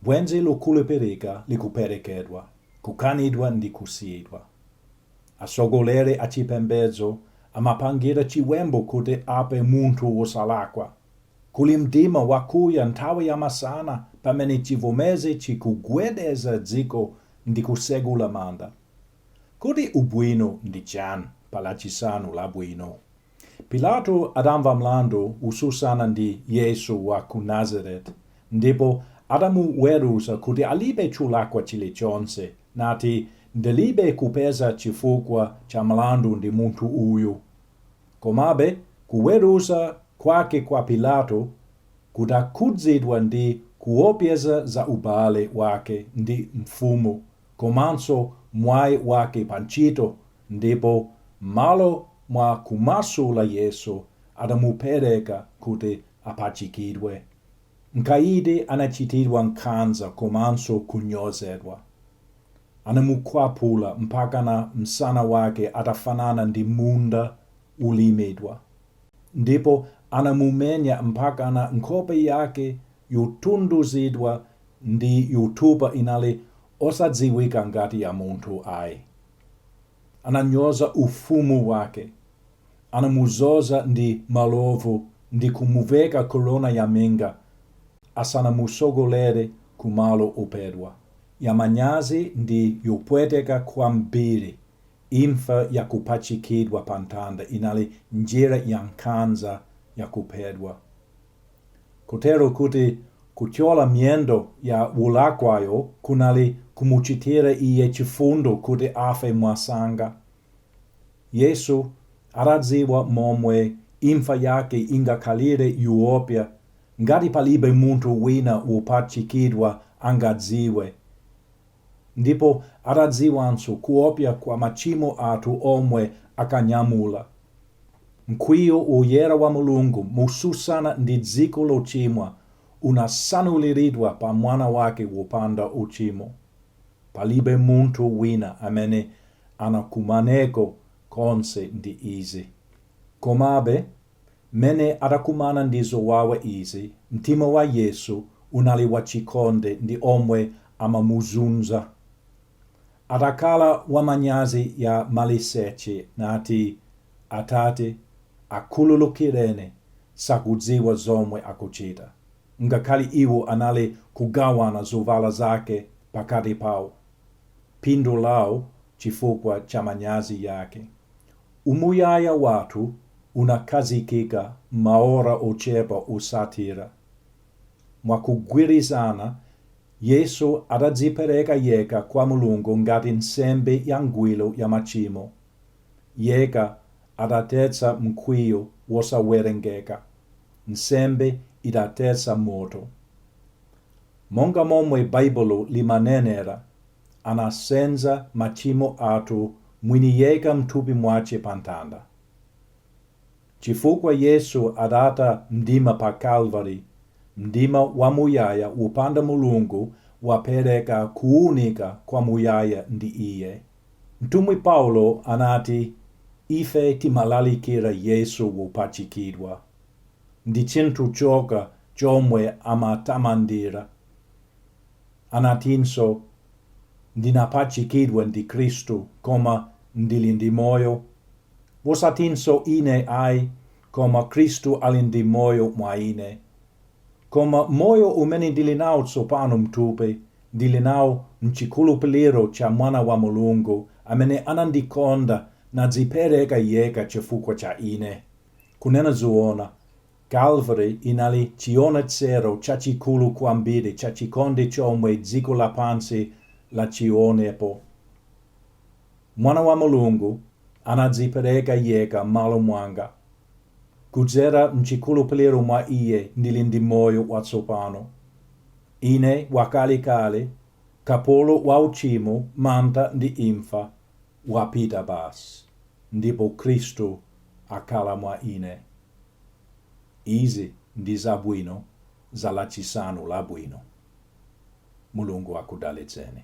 Bwenzi lokhulupirika likuperekedwa, kukanidwa ndi kusiyidwa. Atsogoleri achipembedzo amapangira chiwembu kuti aphe munthu wosalakwa. Kuli mdima wakuya nthawi yamasana pamene chivomezi chikugwedeza dziko ndi kutsegula manda. Kodi ubwino ndi chani pa Lachisanu Labwino? Pilato adamva mlandu wosusana ndi Yesu wa ku Nazareti, ndipo adamuweruza kuti alibe chulakwa chili chonse, nati, Ndilibe kupeza chifukwa cha mlandu ndi munthu uyu. Komabe, kuweruza kwake kwa Pilato kudakhudzidwa ndi kuopseza za ubale wake ndi mfumu komanso mwayi wake pa ntchito ndipo m'malo mwa kumasula Yesu adamupereka kuti apachikidwe. Mkaidi anachitidwa nkhanza komanso kunyozedwa. Anamukwapula mpakana msana wake atafanana ndi munda wolimidwa ndipo anamumenya mpakana nkhope yake yotunduzidwa ndi yotupa inali osadziwika ngati ya munthu ayi ananyoza ufumu wake anamuzoza ndi malovu ndi kumuveka korona ya minga asanamusogolere ku malo ophedwa ya manyazi ndi yopweteka kwambiri imfa ya kupachikidwa pa mtanda inali njira ya nkhanza ya kuphedwa Kotero kuti kuthyola miyendo ya wolakwayo kunali kumuchitira iye chifundo kuti afe mwasanga. Yesu adadziwa momwe imfa yake ingakhalire yoopsa ngati palibe munthu wina wopachikidwa angadziwe. Ndipo adadziwanso kuopsa kwa machimo athu omwe akanyamula. Mkwiyo woyera wa Mulungu motsutsana ndi dziko lochimwa unatsanuliridwa pa Mwana wake wopanda uchimo. Palibe munthu wina amene anakumaneko konse ndi izi. Komabe, mmene adakumana ndi zowawa izi, mtima wa Yesu unali wachikondi ndi omwe amamuzunza. Adakhala wa manyazi ya maliseche nati Atate akhululukireni sakudziwa zomwe akuchita. Ngakhale iwo anali kugawana zovala zake pakati pawo. Phindu lawo chifukwa cha manyazi yake. Umuyaya wathu unakhazikika m'maora ochepa otsatira. Mwakugwirizana Yesu adadzipereka yekha kwa Mulungu ngati nsembe yangwiro ya machimo, yekha adathetsa mkwiyo wosawerengeka, nsembe idathetsa moto. Monga momwe Baibulo limanenera, anasenza machimo athu mwini yekha mthupi mwache pamtanda. Chifukwa Yesu adatha mdima pa Kalvari, mdima wamuyaya wopanda Mulungu wapereka kuunika kwa muyaya ndi Iye. Mtumwi Paulo anati, Ife timalalikira Yesu wopachikidwa. Ndi chinthu chokha chomwe amatamandira. Anatinso, Ndinapachikidwa ndi Kristu, koma ndili ndi moyo, wosatinso ine ayi, koma Kristu ali ndi moyo mwa ine. Koma moyo umene ndili nawo tsopano m'thupi, ndili nawo m'chikhulupiriro cha Mwana wa Mulungu, amene anandikonda nadzipereka yekha chifukwa cha ine. Kunena zoona, Calvary inali chionetsero chachikulu kwambiri cha chikondi chomwe dziko lapansi lachionepo. Mwana wa Mulungu anadzipereka yekha m'malo mwanga. Kudzera m'chikhulupiriro mwa Iye ndili ndi moyo watsopano. Ine wakale kale kapolo wa uchimo, mantha ndi imfa wapita basi ndipo Khristu akhala mwa ine. Izi ndi zabwino za lachisanu labwino. Mulungu akudalitseni.